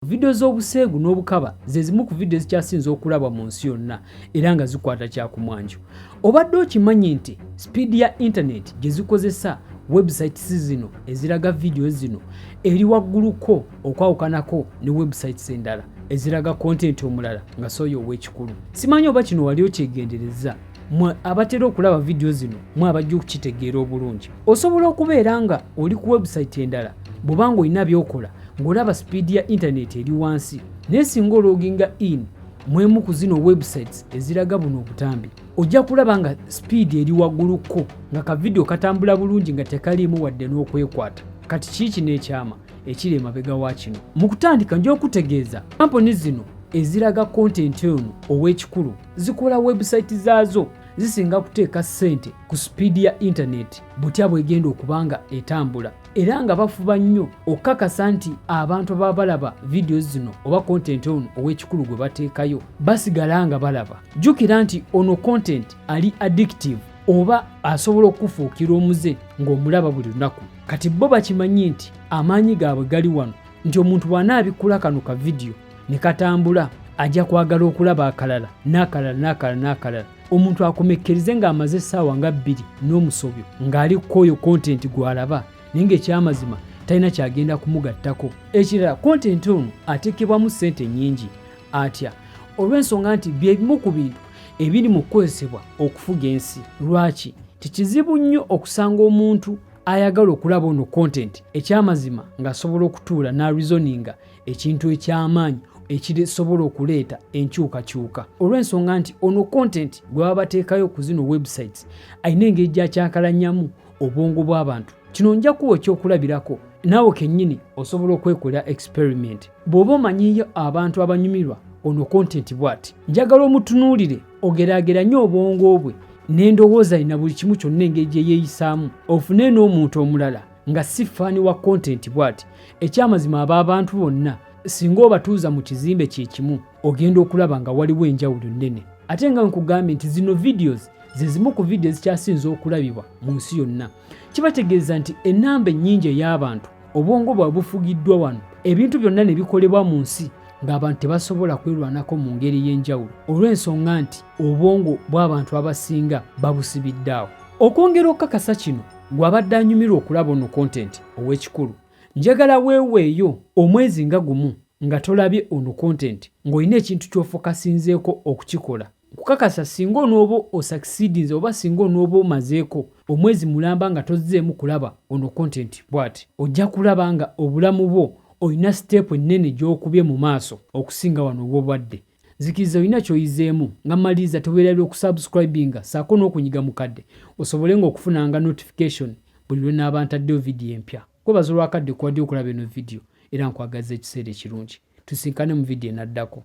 Vidiyo z'obuseegu n'obukaba ze zimu ku vidiyo ezikyasinze okulabwa mu nsi yonna era nga zikwata kyakumwanjo. Obadde okimanyi nti sipiidi ya intaneti gye zikozesa websites zino eziraga vidiyo zino eri wagguluko okwawukanako ne websites endala eziraga kontenti omulala nga sooyo ow'ekikulu. Simanyi oba kino wali okyegenderezza mwe abatera okulaba vidiyo zino mwe abajja okukitegeera obulungi. Osobola okubeera nga oli ku webusayiti endala bw'oba ng'olina by'okola ng'olaba sipiidi ya intaneti eri wansi naye singa ologinga in mwemu ku zino websites eziraga buno obutambi ojja kulaba nga sipiidi eri waggulukko nga kavidiyo katambula bulungi nga tekaliimu wadde n'okwekwata kati kiiki n'ekyama ekiri emabega wa kino mu kutandika nja okutegeeza kampuni zino eziraga kontenti ono ow'ekikulu zikola webusayiti zaazo zisinga kuteeka ssente ku sipiidi ya intaneti butya bw'egenda okuba nga etambula era nga bafuba nnyo okukakasa nti abantu ababa balaba vidiyo zino oba kontenti ono ow'ekikulu gwe bateekayo basigala nga balaba jjukira nti ono kontenti ali addictive oba asobola okukufuukira omuze ng'omulaba buli lunaku kati bo bakimanyi nti amaanyi gaabwe gali wano nti omuntu bw'anaabikkula kano ka vidiyo ne katambula ajja kwagala okulaba akalala n'akalala n'akalala n'akalala omuntu akomekkerize ng'amaze essaawa nga bbiri n'omusobyo ng'ali kukooyo kontenti gw'alaba naye ng'ekyamazima talina kyagenda kumugattako ekirala kontenti ono ateekebwamu ssente nnyingi atya olw'ensonga nti bye bimu ku bintu ebiri mu kukozesebwa okufuga ensi lwaki tikizibu nnyo okusanga omuntu ayagala okulaba ono kontenti ekyamazima ng'asobola okutuula n'arizoninga ekintu eky'amaanyi ekisobola okuleeta enkyukakyuka olw'ensonga nti ono content gwe baba bateekayo ku zino websites alina engeri gyakyakalanyamu obwongo bw'abantu kino nja kuwa ekyokulabirako naawe kennyini osobola okwekolera experiment bw'oba omanyiyo abantu abanyumirwa ono content bwati njagala omutunuulire ogeraageranye obwongo bwe n'endowooza yina buli kimu kyonna engeri gye yeeyisaamu ofune n'omuntu omulala nga si ffaani wa kontenti bw'ati ekyamazima aba abantu bonna singa obatuuza mu kizimbe kye kimu ogenda okulaba nga waliwo enjawulo nnene ate nga nkugambye nti zino videos ze zimu ku vidiyo ezikyasinze okulabibwa mu nsi yonna kibategeeza nti ennamba ennyingi ey'abantu obwongo bwa bufugiddwa wano ebintu byonna ne bikolebwa mu nsi ng'abantu tebasobola kwerwanako mu ngeri y'enjawulo olw'ensonga nti obwongo bw'abantu abasinga babusibidde awo Okwongera okukakasa kino, gwe abadde anyumirwa okulaba ono kontenti ow'ekikulu, njagala weeweeyo omwezi nga gumu nga tolabye ono kontenti ng'olina ekintu ky'ofokasinzeeko okukikola. Nkukakasa ssinga onooba osakisiidinze oba ssinga onooba omazeeko omwezi mulamba nga tozzeemu kulaba ono kontenti bwati, ojja kulaba nga obulamu bwo olina siteepu ennene gy'okubye mu maaso okusinga wano w'obadde. nzikiriza olina kyoyizeemu nga maliriza teweerabira okusubscribinga saako n'okunyiga mukadde osobole nga okufunanga notification buli lwe naaba ntaddeyo vidiyo empya kwebaza olwakadde kuwaddeyo okulaba eno vidiyo era nkwagaza ekiseera ekirungi tusinkane mu vidiyo enaddako